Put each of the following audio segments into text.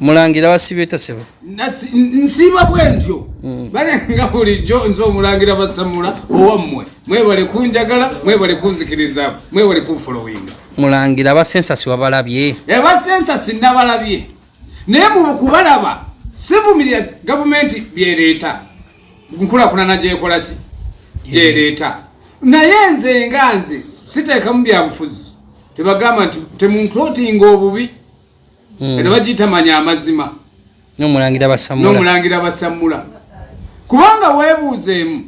mulangira basiba etasebo nsiba bwentyo mm. bale nga bulijjo nze omulangira basamula owammwe mwebale kunjagala mwebale kunzikiriza mwebale kunfolowinga mulangira abasensasi wabalabye abasensasi eh, nabalabye naye mukubalaba sivumirira gavumenti byereeta nkulakulana gyekolaki gyereeta naye nze nga nze siteekamu byabufuzi tebagamba nti temunklotinga obubi hmm. kati bagiyita manya amazima nomulangira basamula nomulangira basamula kubanga weebuuzeemu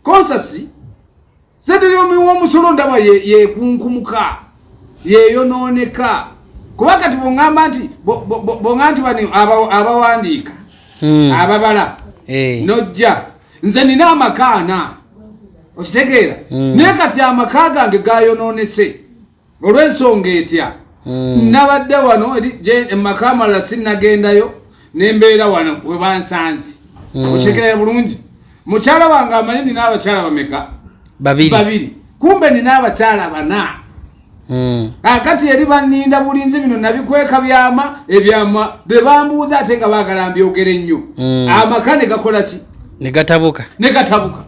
konsasi seteryomi w'omusolo ndaba yekunkumuka yeyonooneka kuba kati bongamba nti bonga nti bani abawandiika hmm. ababala eh. nojja nze nina amaka ana okitegeera hmm. naye kati amaka gange gayonoonese olw'ensonga etya hmm. nabadde wano emaka amalala sinagendayo nembeera wano webansanze hmm. okitekerera bulungi mukyala wange amanyi nina abakyala bameka babiri kumbe nina abakyala bana hmm. akati eri baninda bulinzi bino nabikweka byama ebyama bebambuuza ate nga bagala mbyogere nnyo amaka negakolaki negatabuka negatabuka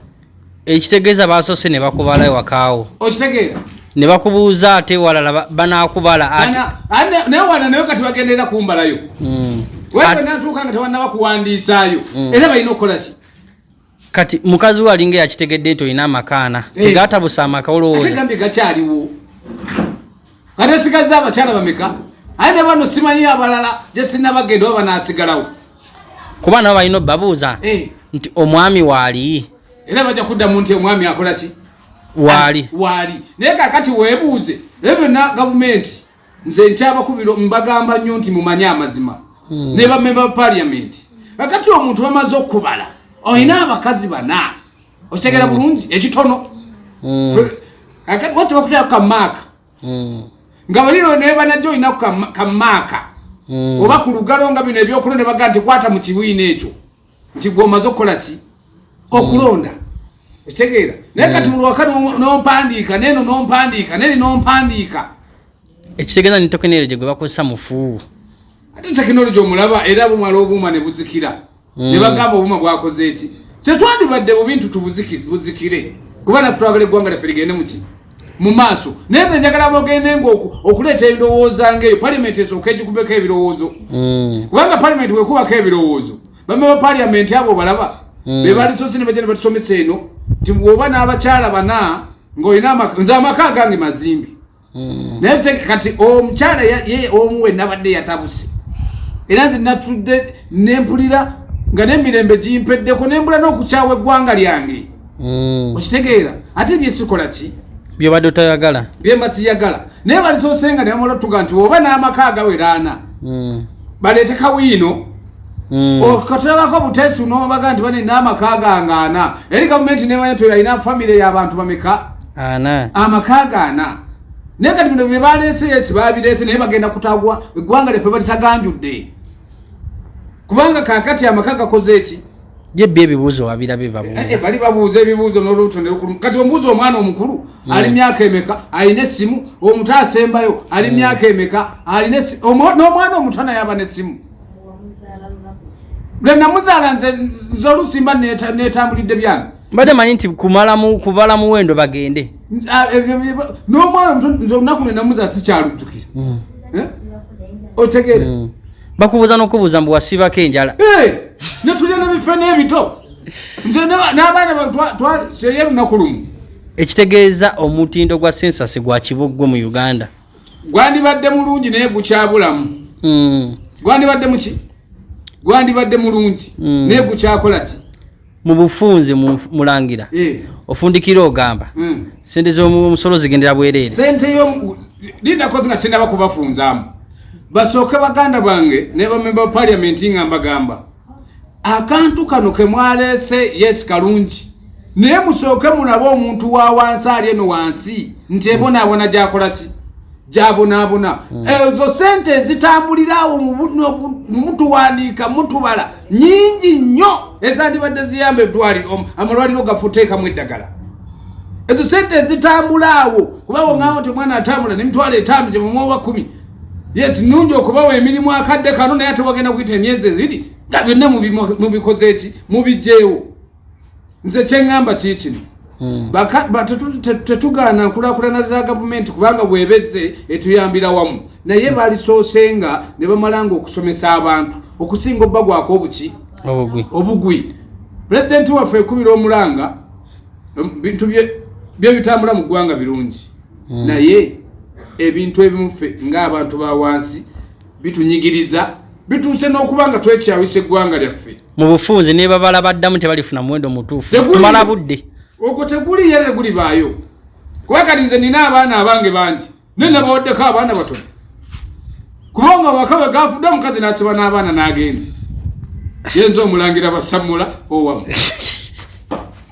ekitegeeza basoose ne bakubala ewakaawo okitegeera ne bakubuuza ate walala banaakubala naye wala nayo kati bagenderera kumbalayo hmm. wenatuuka nga tewannaba kuwandiisaayo hmm. era balina okukola ki kati mukazi we alinga yakitegedde nti olina amakaana eh. tegatabusa amaka olowooza gakyaliwo kati esigazze abakyala bameka aye ne bano simanyi abalala gye sinnabagenda oba banaasigalawo kuba nabo balina obabuuza eh. nti omwami waali era bajja kuddamu nti omwami akola ki waali waali naye kakati weebuuze ebyo byonna gavumenti nze nkyabakubira mbagamba nnyo nti mumanye amazima hmm. ne bamemba ba paliamenti kakati omuntu bamaze okukubala olina abakazi bana okitegera mm. bulungi ekitono mm. wati bakutera kukammaaka mm. nga baliro nebanajo olina kukammaaka oba ku lugalo nga bino ebyokulonda ne bagaa nti kwata mu kibiina ekyo nti gwe omaze okukola ki okulonda ekitegeera naye kati bulwaka nompandiika neno nompandiika neri nompandiika ekitegeeza ni tekinologi gwe bakozesa mufu ate tekinologi omulaba era bumala obuuma ne buzikira mm. ne bagamba obuma bwakoze eki kyetwandibadde mu bintu tubuzikire kuba nafe twagala eggwanga lyaffe ligende muki mu maaso naye nze njagala bogende nga okuleeta ebirowooza ngaeyo palimenti esooka egikubeko ebirowoozo mm. kubanga palimenti wekubako ebirowoozo bamaba paliamenti abo balaba mm. bebalisosi nebaja nebatusomesa eno nti oba n'abakyala bana ngaolina nze amaka gange mazimbi hmm. naye kati omukyala ye omu we nabadde yatabuse era nze natudde nempulira nga nemirembe gimpeddeko nembula n'okukyawa eggwanga lyange hmm. okitegeera ate byesikola ki byobadde otayagala byemba siyagala naye balisoosenga nebamala otuga nti oba n'amaka agaweraana hmm. baleete kawiino Mm. okatulabako butesi nobaga nti bane namaka gange ana eri gavumenti nemanya ti yalina famiry yabantu bameka amaka ga ana naye kati bino byebalese yesi babirese naye bagenda kutagwa eggwanga lyaffe balitaganjudde kubanga kakati amaka gakoze eki jebbi ebibuuzo wabirabe babuuza bali babuuza ebibuuzo nolubuto nelukulu kati omubuuza omwana omukulu mm. ali myaka emeka alina essimu omuto asembayo ali mm. myaka emeka alina n'omwana omuto naye aba nessimu lwe namuzaala nze olusimba netambulidde byange mbadde manyi nti kumalamu kubala muwendo bagende ah, n'omwana omuto nze olunaku lwe namuzaala sikyalujjukira hmm. eh? otegeera hmm. bakubuuza n'okubuuza mbu wasiibako enjala eh! netulya nebife n'ebito nze n'abaana batwaseye lunaku lumu ekitegeeza omutindo gwa sensasi gwa kiboggwe mu uganda gwandibadde mulungi naye gukyabulamu hmm. gwandibadde muki gwandibadde mulungi hmm. naye gukyakola ki mu bufunze mulangira eh. ofundikira ogamba hmm. sente zomusolo zigendera bwereere sente yo linakozi nga sinaba kubafunzamu basooke baganda bange ne bamemba ba paliamenti nga mbagamba akantu kano kemwaleese yes kalungi naye musooke mulabe omuntu wa wansi ali eno wansi nti ebonaabona gyakola ki gyabonaabona hmm. ezo sente ezitambuliraawo mumutuwandiika mutubala nyingi nnyo ezandibadde ziyamba eddwaliro amalwaliro gafuteekamu eddagala ezo sente ezitambulaawo kubawo ngaawo nti omwana atambula nemitwalo etaano gyemumwoba kumi yes nungi okubawa emirimu akadde kano naye ate wagenda kuyita emyezi ebiri nga byonna mubikoze eki mubijjeewo nze kyeŋŋamba kii kino hmm. tetugaana nkulakulana za gavumenti kubanga bwebeze etuyambira wamu naye hmm. balisoose nga ne bamala nga okusomesa abantu okusinga obubagwako obuki obugwi pulezidenti waffe ekubira omulanga bintu bye bitambula mu ggwanga birungi mm. naye ebintu ebimu ffe ng'abantu ba wansi bitunyigiriza bituuse n'okuba nga twekyawisa eggwanga lyaffe mu bufunzi ne babala baddamu tebalifuna muwendo mutuufu tumala budde ogwo teguli yere gulibaayo kuba kati nze nina abaana abange bangi naye nabawaddeko abaana batono kubanga amaka bwe gafudde omukazi n'asiba n'abaana n'agenda yenza omulangira basamula owamu